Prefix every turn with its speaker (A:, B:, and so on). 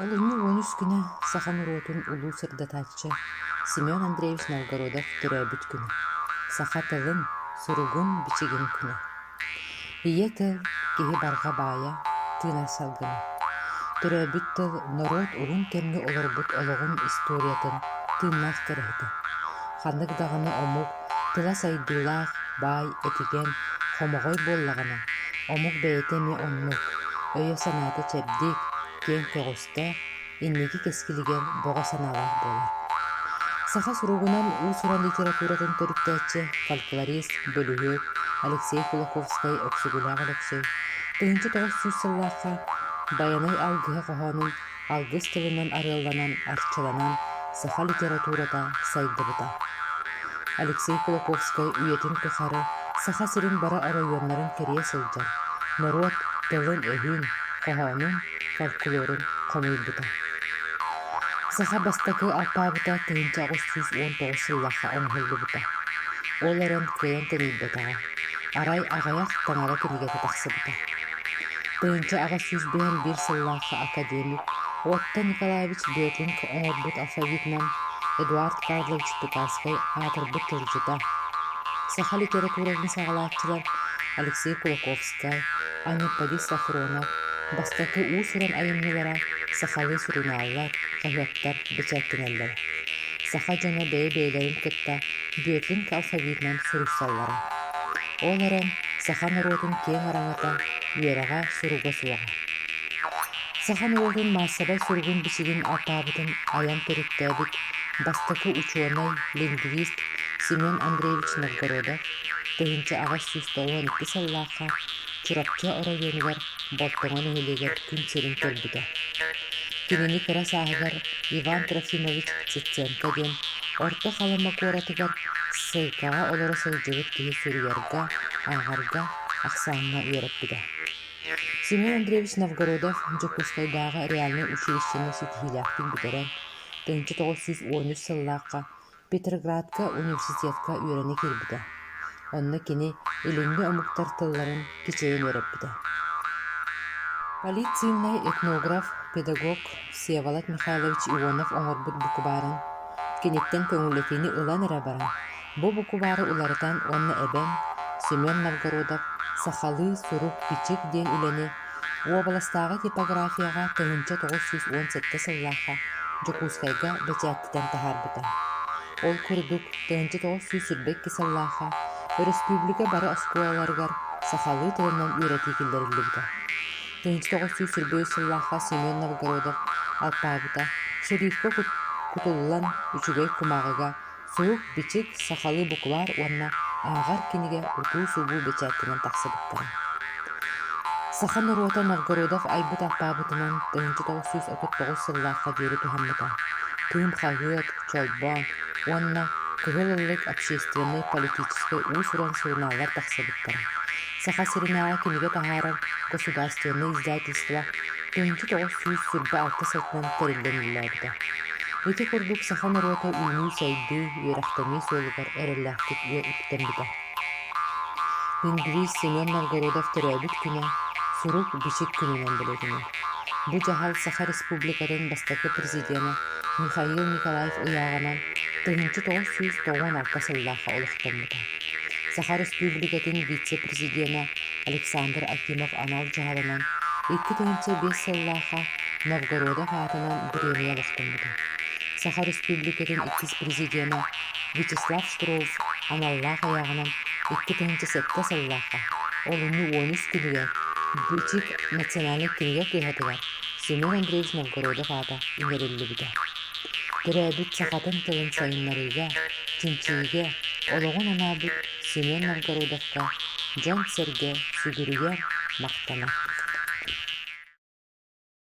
A: Олунньу уон үс күнэ саха норуотун улуу сырдатааччы Семен Андреевич Новгородов төрөөбүт күнэ. Саха тылын, суругун-бичигин күнэ. Ийэ тыл, киһи барҕа баайа, тыынар салгына. Төрөөбүт тыл норуот улун кэмҥэ олорбут олоҕун историятын тыыннаах кэрэһитэ. Ханнык даҕаны омук тыла сайдыылаах, баай, этигэн, хомоҕой буоллаҕына, омук бэйэтэ эмиэ оннук, өйө-санаата чэбдик, киэҥ көҕүстээх, инники кэскилигэр бөҕө санаалаах буолар. Саха суругунан уус-уран литературатын төрүттээччи фольклорист, бөлүһүөк Алексей Кулаковскай Өксүгүлээх Өлөксөй тыһыынча тоҕус сүүс сыллаахха Байанай алгыһа хоһоонун алгыс тылынан арыалланан арчыланан саха литературата сайдыбыта. Алексей Кулаковскай үйэтин тухары Саха сирин бары оройуоннарын кэрийэ сылдьар, норуот тылын-өһүн, хоһоонун, фольклорун хомуйбута. Саха бастакы алпаабыта тыһыынча аҕыс сүүс уон тоҕус сыллаахха оҥоһуллубута. Ол эрэн кыайан тэнийбэтэҕэ. Арай аҕыйах таҥара кинигэтэ тахсыбыта. Тыйынча аҕыс сүүс быһан биир сыллаахха академик, уоттан Николаевич Детлинг оҥорбут алфавитынан Эдуард Карлович Тукайскай аатырбыт тылдьыта, саха литературатын саҕалааччылар Алексей Кулаковскай, Анипподи Сафронов, бастакы уус-уран айымньылара сахалыы сурунааллар, хаһыаттар бэчээттэнэллэрэ. Саха дьоно бэйэ-бэйэлэрин кытта Детлинг алфавитынан суруйсаллара. Ол эрэн, саха норуотун киэҥ араҥата, үөрэҕэ, суруга суоҕа. Саха норуотун маассабай суругун-бичигин алтаабытын айан төрүттээбит бастакы учуонай, лингвист Семен Андреевич Новгородов тыһыынча аҕыс сүүс тоҕуон икки сыллаахха Чурапчы оройуонугар Бортоҕо нэһилиэгэр күн сирин көрбүтэ. Кинини кыра сааһыгар Иван Трофимович Цыценко диэн Орто Халыма куоратыгар ссылкаҕа олоро сылдьыбыт киһи суруйарга, ааҕарга ахсааҥҥа үөрэппитэ. Семен Андреевич Новгородов Дьокуускайдааҕы реальнай училищены ситиһиилээхтик бүтэрэн, тыһыынча тоҕус сүүс уон үс сыллаахха Петроградка университетка үөрэнэ киирбитэ, онно кини илиҥҥи омуктар тылларын кичэйэн үөрэппитэ. Полиция этнограф, педагог Всеволод Михайлович Иванов оҥорбут букубаарын киниттэн көҥүллэтиини ылан эрэ баран, бу букубаары уларытан уонна эбэн Семен Новгородов «Сахалыы сурук-бичик» диэн үлэни Уобаластааҕы типографияҕа тыһыынча тоҕус сүүс уон сэттэ сыллаахха Дьокуускайга бэчээттитэн таһаарбыта. Ол курдук, тыһыынча тоҕус сүүс сирбэ икки сыллаахха өрөспүүбүлүкэ бары оскуолаларыгар сахалыы тылынан үөрэтии киллэриллибитэ. Тыһыынча тоҕус сүүс сирбэ үс сыллаахха Семен Новгородов алпаабыта сөрүүккэ кутуллан үчүгэй кумааҕыга Сурук-бичик, сахалыы букулаар уонна ааҕар кинигэ утуу-субуу бэчээттэнэн тахсыбыттара. Саха норуота Новгородов айбыт алпаабытынан тыһыынча тоҕус сүүс отут тоҕус сыллаахха диэри туһаммыта. Кыым хаһыат, Чолбоон уонна Кыһыл Ыллык общественнай-политическай уус-уран сурунааллар тахсыбыттара. Саха сиринээҕи кинигэ таһаарар государственнай издательство тыһыынча тоҕус сүүс сырба алта сотунан тэриллэн үлэлээбитэ. Ити курдук саха норуота үүнүү-сайдыы, үөрэхтэнии суолугар эрэллээхтик үктэммитэ. Лингвист Семен Новгородов төрөөбүт күнэ сурук-бичик күнүнэн билетинэн. Бу дьаһал Саха Республикатын бастакы президенэ Михаил Николаев ыйааҕынан тыһыынча тоҕус сүүс тоҕуон алта сыллаахха олохтоммута. Саха Республикатын вице-президенэ Александр Акимов анал дьаһалынан икки тыһыынча биэс сыллаахха Новгородов аатынан бириэмийэ олохтоммута. Саха Республикатын иккис президенэ Вячеслав Штроус аналлаах айааҕынан икки тыһыынча сэттэ сыллаахха, олунньу уон үс күнүгэр, Бичик национальнай кинигэ кыһатыгар Семен Андреевич Новгородов аата иҥэриллибитэ. Төрөөбүт сахатын тылын сайыннарыыга, чинчийиигэ олоҕун анаабыт Семен Новгородовка дьон-сэргэ сүгүрүйэр махтана.